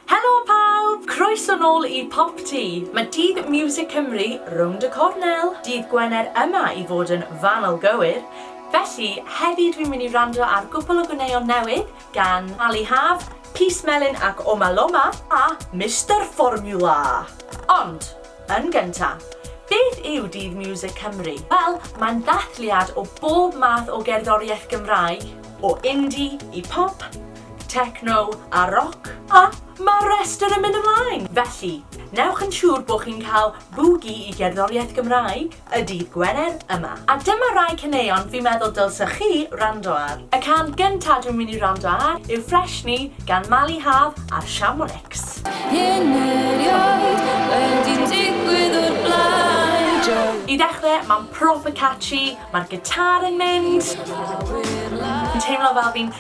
Helo pawb! Croeso nôl i Pop Tŷ! Mae Dydd Miwsig Cymru rownd y cornel, dydd Gwener yma i fod yn fanwl gywir, felly heddi dwi'n mynd i wrando ar gwpwl o gwneuon newydd gan Ali Haf, Peace Melyn ac Oma Loma a Mister Formula! Ond, yn gynta', beth yw Dydd Miwsig Cymru? Wel, mae'n ddathliad o bob math o gerddoriaeth Gymraeg, o indie i pop, techno a roc, a mae'r rhestr yn mynd ymlaen! Felly, newch yn siŵr bod chi'n cael bŵgi i gerddoriaeth Gymraeg y dydd Gwener yma. A dyma rai caneuon fi'n meddwl dylsech chi wrando ar. Y can gynta dwi'n mynd i wrando ar yw Fresh Ni gan Mali Haf a'r Shamronics. Hyn erioed wedi digwydd o'r blaen. I ddechrau, mae'n proper catchy, mae'r gitar yn mynd. Yn teimlo fel fi'n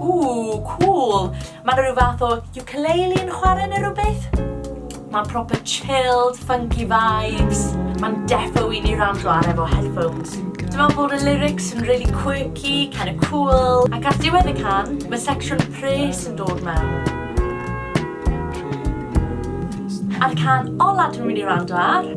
Ooh, cool! Mae yna rhyw fath o ukulele yn chwarae neu rhywbeth? Mae'n proper chilled, funky vibes. Mae'n defo i ni rando ar efo headphones. Dwi'n meddwl bod y lyrics yn really quirky, kind of cool. Ac ar diwedd y can, mae section pres yn dod mewn. A'r can ola dwi'n mynd i rando ar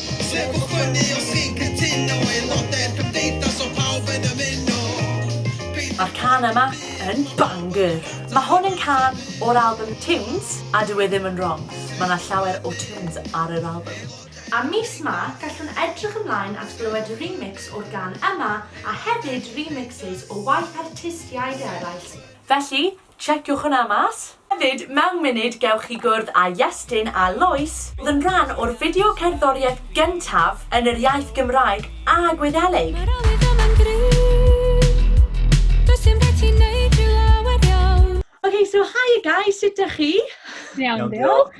Sneb o fyny os chi'n cytuno Aelodau'r cymdeithas o pawb yn ymuno Peidiwch Mae'r cân yma yn banger! Mae hwn yn cân o'r albym Tunes a dyw e ddim yn wrong, mae 'na llawer o tunes ar yr albym. A mis 'ma gallwn edrych ymlaen at glywed remix o'r gan yma a hefyd remixes o waith artistiaid eraill. Felly, Checiwch hwnna mas! Hefyd, mewn munud gewch chi gwrdd â Iestyn a Lois, oedd yn rhan o'r fideo cerddoriaeth gyntaf yn yr iaith Gymraeg a Gwyddelig. Mae'r awydd yma'n gryf Does dim rhaid ti neud rhyw lawer iawn. Ok, so hiya guys, sut dych chi? Iawn diolch.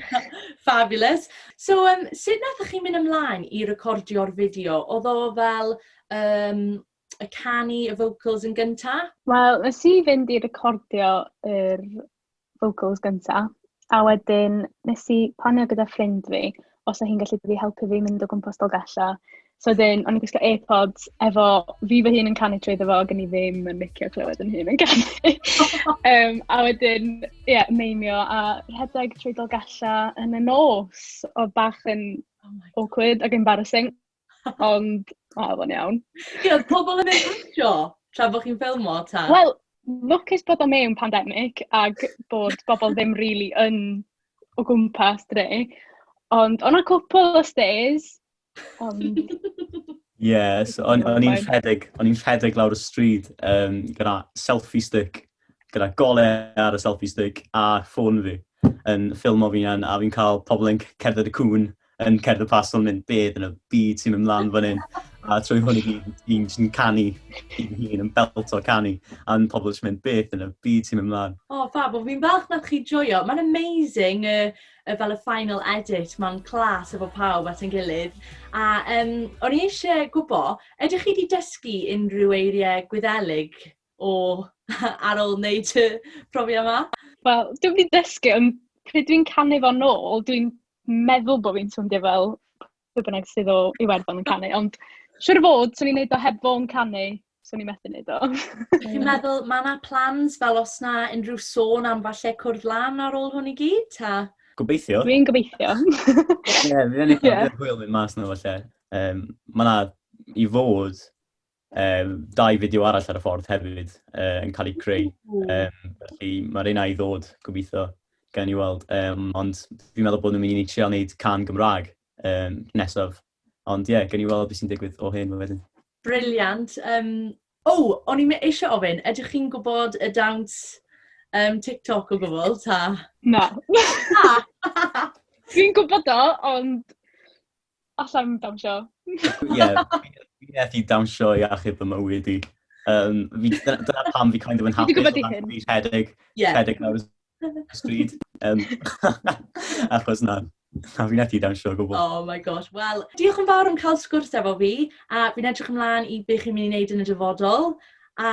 Fabulous. So yym sut nathoch chi mynd ymlaen i recordio'r fideo? Oedd o fel yym y canu y vocals yn gynta? Wel, nes i fynd i recordio yr vocals gynta, a wedyn nes i planio gyda ffrind fi os o hi'n gallu dod i helpu fi mynd o gwmpas Dolgellau. So wedyn, o'n i'n gwisgo AirPods efo fi fy hun yn canu trwy ddo fo, ac o'n i ddim yn licio clywed yn hun yn canu. um, a wedyn, ie, yeah, meimio a rhedeg trwy Dolgellau yn y nos, oedd bach yn oh awkward ac embarrassing. Ond, o, oedd o'n iawn. Ie, oedd pobl yn ei wisio tra bod chi'n ffilmo, ta? Wel, lwcus bod o mewn pandemig ac bod bobl ddim rili yn o gwmpas dre. Ond oedd 'na cwpl o stares, ond... Ie, so o'n i'n rhedeg, o'n i'n rhedeg lawr y stryd um, gyda selfie stick gyda golau ar y selfie stick a ffôn fi yn ffilmo fi a fi'n cael pobl yn cerdded y cwn yn cerdded pas o'n mynd beth yn y byd sy'n mynd mlaen fan hyn. A trwy hwn i gyd, fi'n jyst yn canu i'n hun, yn belt o canu. A'n pobl jyst mynd beth yn y byd sy'n mynd mlaen. O, oh, fab, o fi'n falch nad chi joio. Mae'n amazing y, y, fel y final edit, mae'n clas efo pawb at yn gilydd. A um, o'n i eisiau gwybod, ydych chi wedi dysgu unrhyw eiriau gwyddelig o ar ôl wneud y profiad 'ma? Wel, dwi wedi dysgu, ond pryd dwi'n canu fo'n ôl, dwi'n meddwl bod fi'n swndio fel pwy bynnag sydd o Iwerddon yn canu, ond siŵr o fod, 'swn i'n wneud o heb fo'n canu, 'swn i'n methu wneud o. Dwi'n meddwl, mae yna plans fel os yna unrhyw sôn am falle cwrdd lan ar ôl hwn i gyd, ta? Gobeithio. Dwi'n gobeithio. Ie, fi wedi cael hwyl mynd mas na falle. Um, mae yna i fod Yym, dau fideo arall ar y ffordd hefyd yy yn cael eu creu, yym, felly ma'r un ai ddod gobeithio, gawn ni weld. Yym, ond fi'n meddwl bod nhw'n mynd i trio wneud cân Gymraeg yym nesaf, ond ie, gawn ni weld be sy'n digwydd o hyn wedyn. Brilliant. Yym, o! O'n i eisiau ofyn, ydych chi'n gwybod y dawns yym TikTok o gwbl, ta? Na! Dwi'n gwybod o, ond... Alla i'm dawnsio. Ie, fi methu dawnsio i achub fy mywyd i. Um, fi, dyna pam fi kind of yn hapus. Fi gwybod i hyn. Fi'n rhedeg, yeah. rhedeg nawr stryd. Um, achos na, na fi'n ethi dan siog o bobl. Oh my gosh, wel, diolch yn fawr am cael sgwrs efo fi, a fi'n edrych ymlaen i beth chi'n mynd i wneud yn y dyfodol, a